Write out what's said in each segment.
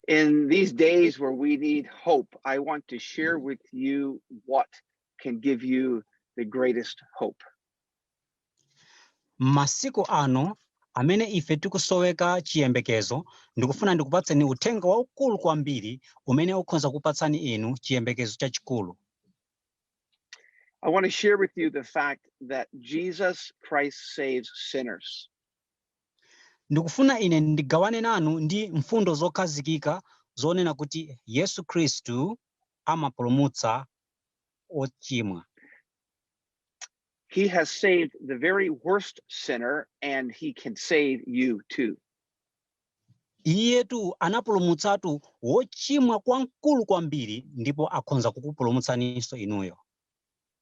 In these days where we need hope, I want to share with you what can give you the greatest hope. masiku ano amene ife tikusoweka chiyembekezo ndikufuna ndikupatseni uthenga waukulu kwambiri umene ukhoza kupatsani inu chiyembekezo chachikulu I want to share with you the fact that Jesus Christ saves sinners. Ndikufuna ine ndigawane nanu ndi mfundo zokhazikika zonena kuti Yesu Khristu amapulumutsa ochimwa. He has saved the very worst sinner and he can save you too. Iyetu anapulumutsatu wochimwa kwamkulu kwambiri ndipo akhonza kukupulumutsaninso inuyo.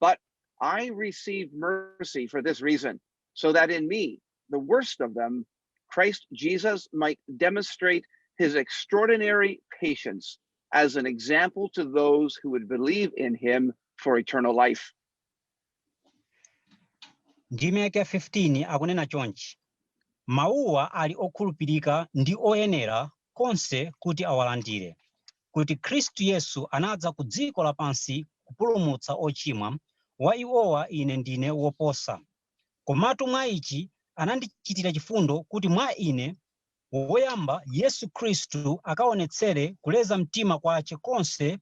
But I received mercy for this reason, so that in me, the worst of them, Christ Jesus might demonstrate his extraordinary patience as an example to those who would believe in him for eternal life. ndime yake ya 15 akunena chonchi mawuwa ali okhulupirika ndi oyenera konse kuti awalandire kuti Khristu Yesu anadza ku dziko lapansi kupulumutsa ochimwa, wa iwowa ine ndine woposa. Komatu mwa ichi anandichitira chifundo, kuti mwa ine, woyamba, Yesu Khristu akaonetsere kuleza mtima kwache konse,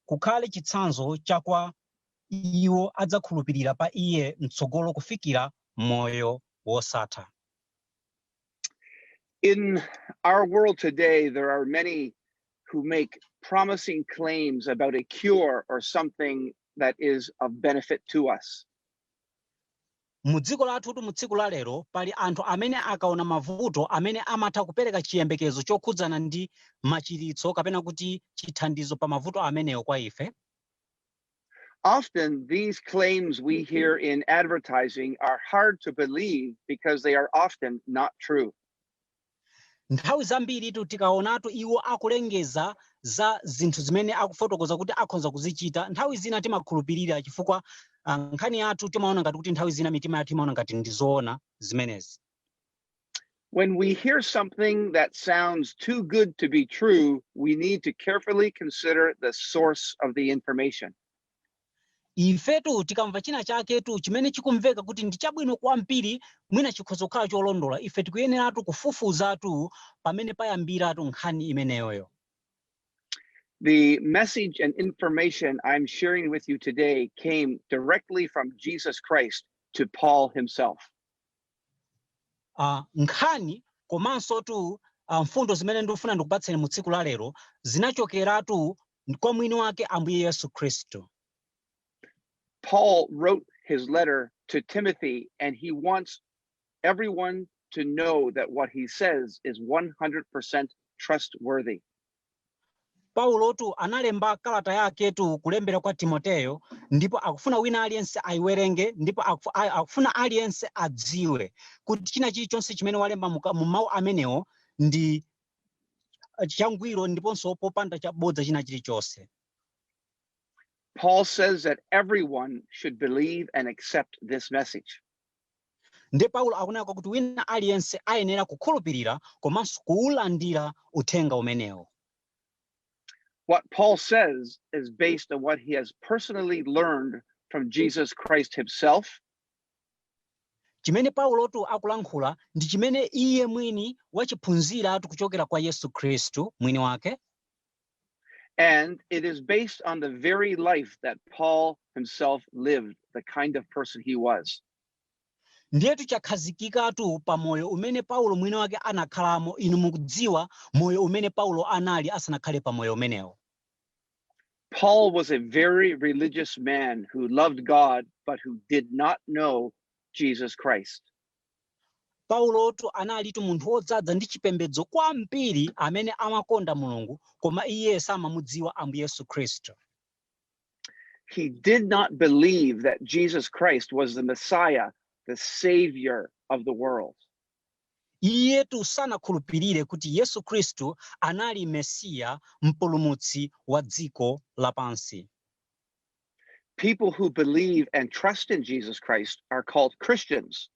kukhale chitsanzo cha kwa iwo adzakhulupirira pa Iye m'tsogolo kufikira moyo wosatha. In our world today, there are many who make promising claims about a cure or something that is of benefit to us. mu dziko lathutu mu tsiku la lero pali anthu amene akaona mavuto amene amatha kupereka chiyembekezo chokhudzana ndi machiritso kapena kuti chithandizo pa mavuto amenewo kwa ife Often, these claims we hear in advertising are hard to believe because they are often not true. nthawi zambiritu tikaonatu iwo akulengeza za zinthu zimene akufotokoza kuti akhonza kuzichita nthawi zina timakhulupirira chifukwa nkhani yathu timaona ngati kuti nthawi zina mitima yathu imaona ngati ndi zoona zimenezi When we hear something that sounds too good to be true, we need to carefully consider the source of the information. ifetu tikamva china chaketu chimene chikumveka kuti ndi chabwino kwambiri mwina chikhoza kukhala cholondola ife tikuyeneratu kufufuzatu pamene payambiratu nkhani imeneyoyo The message and information I'm sharing with you today came directly from Jesus Christ to Paul himself. Nkhani komansotu mfundo zimene ndikufuna ndikupatseni mu tsiku la lero zinachokeratu kwa mwini wake Ambuye Yesu Khristu. Paul wrote his letter to Timothy, and he wants everyone to know that what he says is 100% trustworthy. Paulotu analemba kalata yaketu kulembera kwa Timoteyo ndipo akufuna wina aliyense ayiwerenge ndipo akufuna aliyense adziwe kuti china chilichonse chimene walemba mu mawu amenewo ndi changwiro ndiponso popanda chabodza china chilichonse. Paul says that everyone should believe and accept this message. Ndiye Paulo akunena kuti wina aliyense ayenera kukhulupirira komanso kuwulandira uthenga umenewo. What Paul says is based on what he has personally learned from Jesus Christ himself. Chimene Paulotu akulankhula ndi chimene iye mwini wachiphunziratu kuchokera kwa Yesu Khristu mwini wake. And it is based on the very life that Paul himself lived, the kind of person he was. ndiyetu chakhazikikatu pa moyo umene paulo mwini wake anakhalamo inu mukudziwa moyo umene paulo anali asanakhale pa moyo umenewo Paul was a very religious man who loved God, but who did not know Jesus Christ. Paulotu analitu munthu wodzadza ndi chipembedzo kwambiri amene amakonda Mulungu koma iye samamudziwa Ambuye Yesu Khristu. He did not believe that Jesus Christ was the Messiah, the savior of the world. Iyetu sanakhulupirire kuti Yesu Khristu anali Mesiya, mpulumutsi wa dziko lapansi. People who believe and trust in Jesus Christ are called Christians.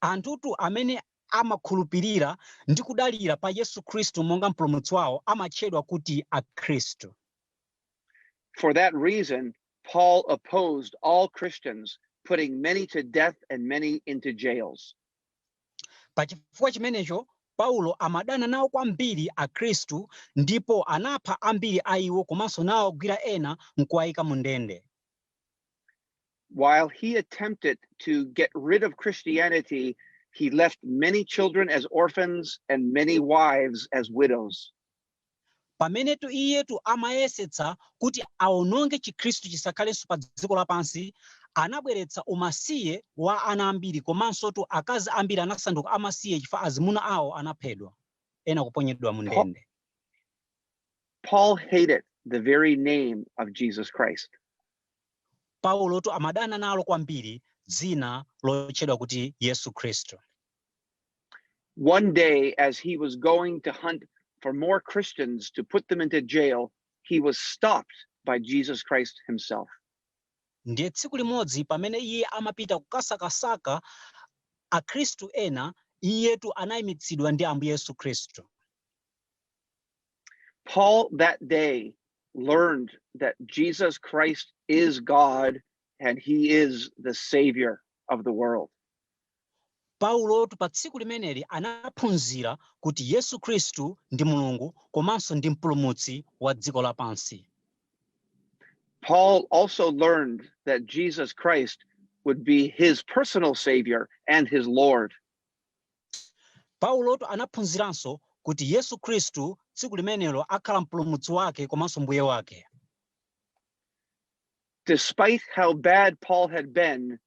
anthutu amene amakhulupirira ndi kudalira pa yesu khristu monga mpulumutsi wawo amatchedwa kuti akhristu For that reason, Paul opposed all Christians, putting many to death and many into jails. Pa chifukwa chimenecho, Paulo amadana nawo kwambiri Akhristu ndipo anapha ambiri a iwo komanso nawagwira ena n'kuwaika mu ndende. While he attempted to get rid of Christianity, he left many children as orphans and many wives as widows. Pamenetu iyetu amayesetsa kuti awononge Chikhristu chisakhalenso padziko lapansi, anabweretsa umasiye wa ana ambiri komansotu akazi ambiri anasanduka amasiye chifukwa azimuna awo anaphedwa, ena kuponyedwa mu ndende. Paul hated the very name of Jesus Christ. Paulotu amadana nalo kwambiri dzina lotchedwa kuti Yesu Khristu. One day, as he was going to hunt for more Christians to put them into jail, he was stopped by Jesus Christ himself. ndiye tsiku limodzi pamene iye amapita kukasakasaka akhristu ena iyetu anayimitsidwa ndi ambuye yesu khristu Paul that day learned that Jesus Christ is God and he is the savior of the world. Paulotu pa tsiku limeneli anaphunzira kuti Yesu Khristu ndi Mulungu komanso ndi Mpulumutsi wa dziko lapansi. Paul also learned that Jesus Christ would be his personal savior and his Lord. Paulotu anaphunziranso kuti Yesu Khristu tsiku limenelo akhala mpulumutsi wake komanso mbuye wake. Despite how bad Paul had been,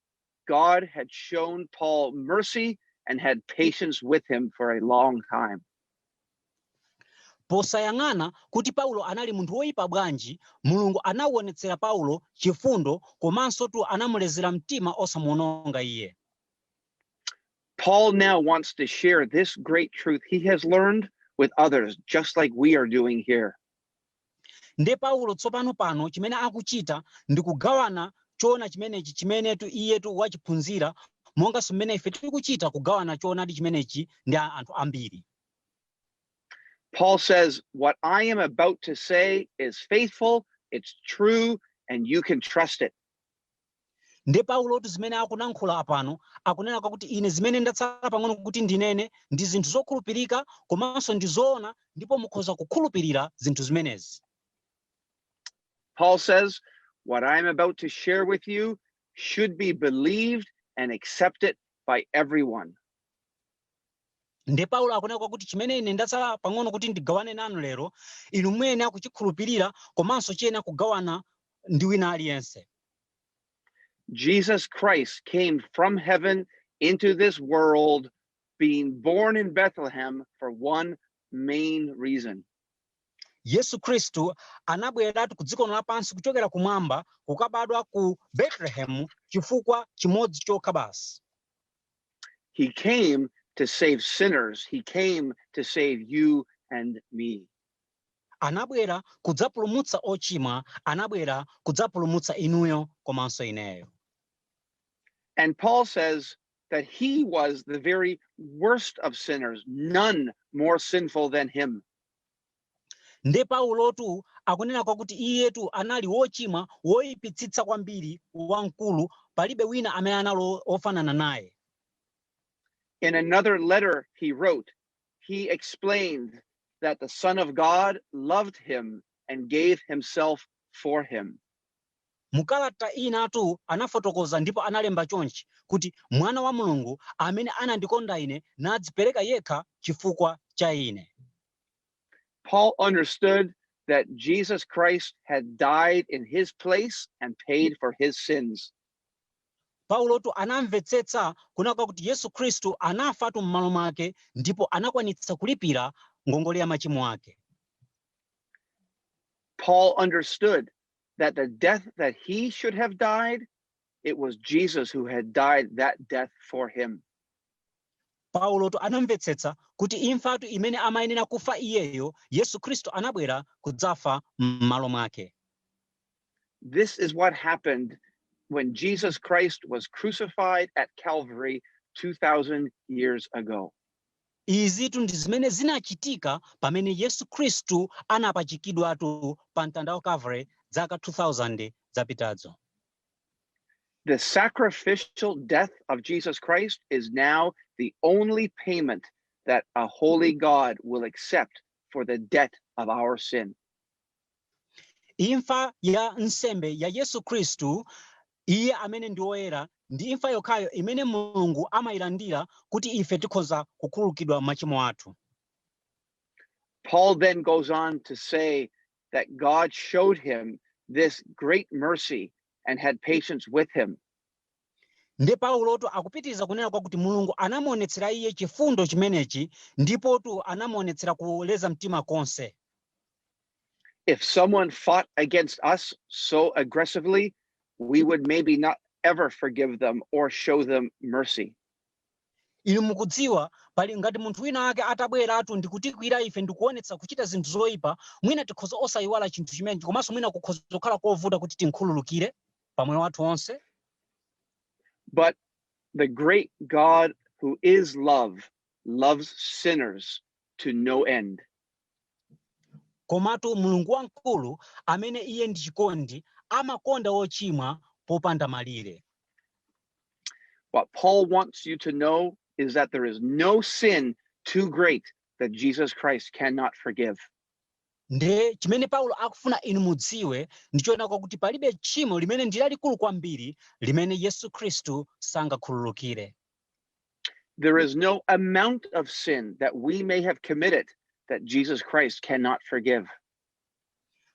God had shown Paul mercy and had patience with him for a long time. posayang'ana kuti paulo anali munthu woyipa bwanji mulungu anawonetsera paulo chifundo komanso tu anamulezera mtima osamuononga iye Paul now wants to share this great truth he has learned with others, just like we are doing here. Ndiye Paulo tsopano pano, chimene akuchita, ndi kugawana Choona chimenechi chimenetu iyetu wachiphunzira, monganso mmene ife tikuchita, kugawana Choonadi chimenechi ndi anthu ambiri. Paul says, What I am about to say is faithful, it's true, and you can trust it. nde paulotu zimene akulankhula apano akunena kwakuti ine zimene ndatsala pang'ono kuti ndinene ndi zinthu zokhulupirika komanso ndi zoona ndipo mukhoza kukhulupirira zinthu zimenezi Paul says, What I am about to share with you should be believed and accepted by everyone. nde paulo akunena kwakuti chimene ine ndatsala pang'ono kuti ndigawane nanu lero inu muyenera kuchikhulupirira komanso chiyenera kugawana ndi wina aliyense Jesus Christ came from heaven into this world, being born in Bethlehem for one main reason yesu khristu anabweratu ku dziko lino lapansi kuchokera kumwamba kukabadwa ku betelehemu chifukwa chimodzi chokha basi He came to save sinners. He came to save you and me. anabwera kudzapulumutsa ochimwa anabwera kudzapulumutsa inuyo komanso ineyo And Paul says that he was the very worst of sinners, none more sinful than him. Nde Paulotu akunena kwakuti iyetu anali wochimwa woipitsitsa kwambiri wamkulu, palibe wina amene anali ofanana naye. In another letter he wrote, he explained that the Son of God loved him and gave himself for him. Mukalata inatu anafotokoza ndipo analemba chonchi kuti, Mwana wa Mulungu amene anandikonda ine nadzipereka yekha chifukwa cha ine. Paul understood that Jesus Christ had died in his place and paid for his sins. Paulotu anamvetsetsa kunena kwakuti Yesu Khristu anafatu m'malo mwake ndipo anakwanitsa kulipira ngongole ya machimo ake. Paul understood that the death that he should have died It was Jesus who had died that death for him. paulotu anamvetsetsa kuti imfatu imene amayenera kufa iyeyo yesu khristu anabwera kudzafa m'malo mwake This is what happened when Jesus Christ was crucified at Calvary 2,000 years ago. izitu ndi zimene zinachitika pamene yesu khristu anapachikidwatu pa mtanda wa calvary dzaka 2000 zapitazo The sacrificial death of Jesus Christ is now the only payment that a holy God will accept for the debt of our sin. Imfa ya nsembe ya Yesu Khristu iye amene ndi woyera ndi imfa yokhayo imene Mulungu amayilandira kuti ife tikhoza kukhululukidwa machimo athu. Paul then goes on to say that God showed him this great mercy and had patience with him. nde paulotu akupitiriza kunena kwakuti mulungu anamuonetsera iye chifundo chimenechi ndipotu anamuonetsera kuleza mtima konse If someone fought against us so aggressively, we would maybe not ever forgive them or show them mercy. inu mukudziwa pali ngati munthu wina wake atabweratu ndikutikwira ife ndikuonetsa kuchita zinthu zoyipa mwina tikhoza osayiwala chinthu chimenechi komanso mwina kukhoza kukhala kovuta kuti tinkhululukire pa moyo wathu onse but the great god who is love loves sinners to no end komatu mulungu wamkulu amene iye ndi chikondi amakonda ochimwa popanda malire What Paul wants you to know is that there is no sin too great that Jesus Christ cannot forgive. nde chimene paulo akufuna inu mudziwe ndi choona kwakuti palibe tchimo limene ndi lalikulu kwambiri limene yesu khristu sangakhululukire There is no amount of sin that we may have committed that Jesus Christ cannot forgive.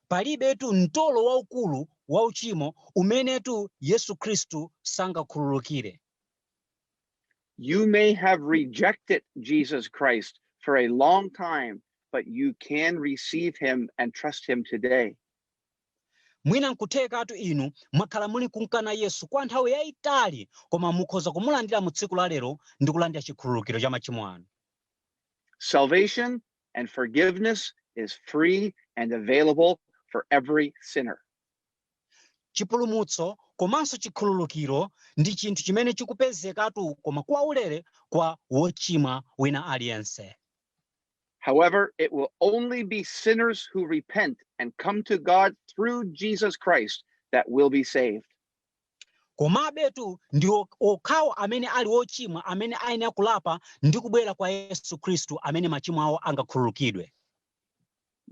Palibetu mtolo waukulu wa uchimo umenetu Yesu Khristu sangakhululukire. You may have rejected Jesus Christ for a long time, but you can receive him and trust him today. Mwina nkuthekatu inu mwakhala muli kumkana Yesu kwa nthawi yayitali, koma mukhoza kumulandira mu tsiku la lero ndi kulandira chikhululukiro cha machimo anu. Salvation and forgiveness is free and available for every sinner. chipulumutso komanso chikhululukiro ndi chinthu chimene chikupezekatu koma kwaulere kwa wochimwa wina aliyense However, it will only be sinners who repent and come to God through Jesus Christ that will be saved. Komabetu ndi okhawo amene ali ochimwa amene ayenera kulapa ndi kubwera kwa Yesu Khristu amene machimo awo angakhululukidwe.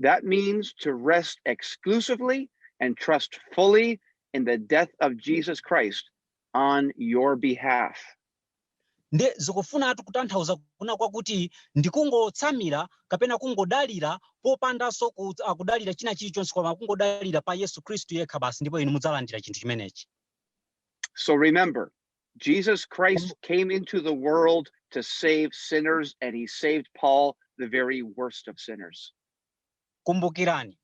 That means to rest exclusively and trust fully in the death of Jesus Christ on your behalf. Ndiye zikufunatu kutanthauza kunena kwakuti ndi kungotsamira kapena kungodalira popandanso ku, ah, kudalira china chilichonse koma kungodalira pa Yesu Khristu yekha basi ndipo inu mudzalandira chinthu chimenechi. So remember, Jesus Christ Kumbu- came into the world to save sinners, and he saved Paul, the very worst of sinners. Kumbukirani,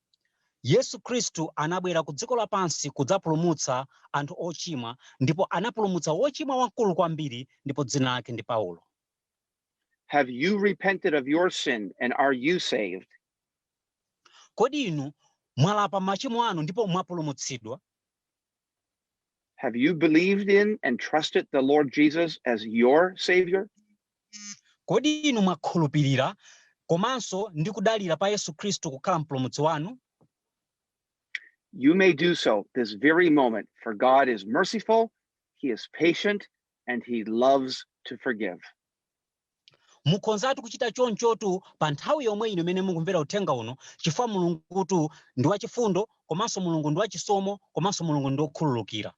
Yesu Khristu anabwera ku dziko lapansi kudzapulumutsa anthu ochimwa ndipo anapulumutsa wochimwa wamkulu kwambiri ndipo dzina lake ndi Paulo. Have you repented of your sin and are you saved? Kodi inu mwalapa machimo anu ndipo mwapulumutsidwa? Have you believed in and trusted the Lord Jesus as your Savior? kodi inu mwakhulupirira komanso ndi kudalira pa yesu khristu kukhala mpulumutsi wanu You may do so this very moment, for God is merciful, He is patient, and He loves to forgive. Mukhonzatu kuchita chonchotu pa nthawi yomwe ino imene mukumvera uthenga uno chifukwa Mulungutu ndi wachifundo komanso Mulungu ndi wachisomo komanso Mulungu ndi wokhululukira.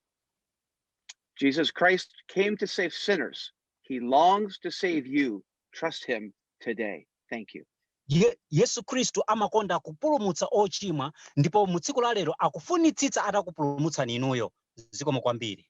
Jesus Christ came to save sinners. He longs to save you. Trust him today. Thank you. Ye, Yesu Khristu amakonda kupulumutsa ochimwa ndipo mu tsiku la lero akufunitsitsa atakupulumutsani inuyo. Zikomo kwambiri.